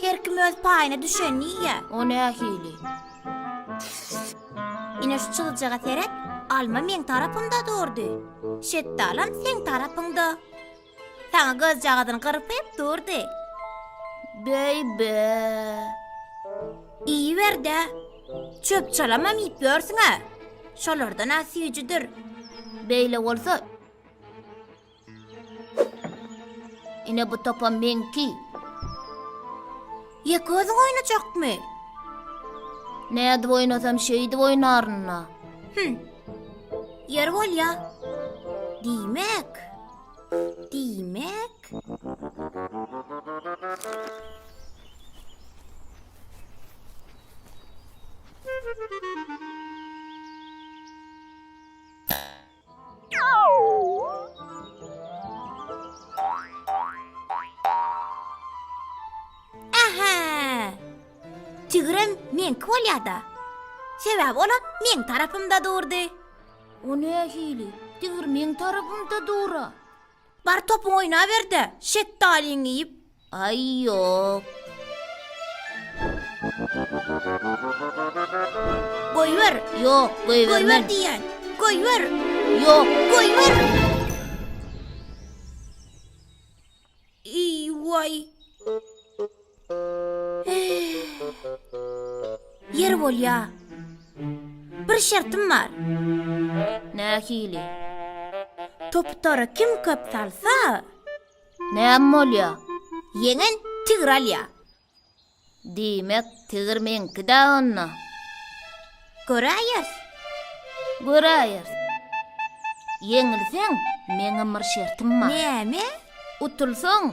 Her kim öz paýyna düşenini iýýä. O nähili? Ine şu çyzyjaga seret, alma meň tarapymda durdy. Şetdalam seň tarapyňda. Saňa gyzjagazyny gyrpyp durdy. Beýbä! Iýiber-dä. Çöp-çalamam iýip ýörsüň-ä. Şolardan-a süýjüdir. Beýle bolsa, Ine bu topa meňki. Ýek özüň oýnajakmy? Nädip oýnasam şeýdip oýnaryn-da. Hüm. Ýer bolýa. Diýmek. Diýmek. Aha! Tigirem meňki bolýar-da. Sebäbi olam meň tarapymda durdy. O nähili? Tigir meň tarapymda dura. Bar topuňy oýnaber-de, şetdaliňi iýip. Aý, ýok. Goýber. Ýok, goýbermen. Goýber diýýän. Goýber. Ýok, goýber. Eý, waý. Ýer bolýa. Bir şertim bar. Nähili? Toputara kim köp salsa. Näme bolýa? Ýeňen tigir alýa. Diýmek, tigir meňki-dä onda. Göräýeris. Göräýeris. Ýeňilseň, meňem bir şertim bar. Näme? Utulsaň,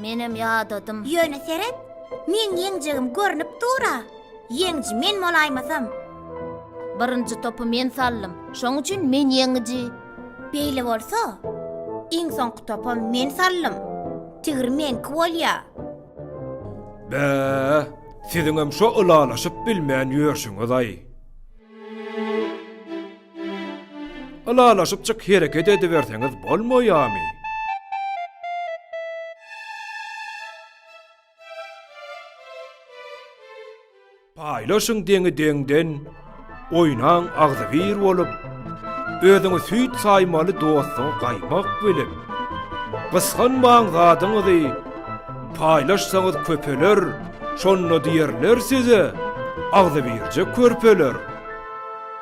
Menem ýadadym. Ýöne seret, meň ýeňjegim görnüp dur-a. Ýeňji men bolaýmasam. Birinji topy men saldym. Şoň üçin men ýeňiji. Beýle bolsa, iň soňky topam men saldym. Tigir meňki bolýa. Bä, siziňem şo ylalaşyp bilmän ýörşüňiz-aý. Ylalaşypjyk hereket ediberseňiz bolmaýamy? Paýlaşyň deňi-deňden, oýnaň agzybir bolup, özüňi süýt saýmaly dostuňy gaýmak bilip, gysganmaň zadyňyzy, paýlaşsaňyz köpeler, şonda diýerler size, agzybirje körpeler.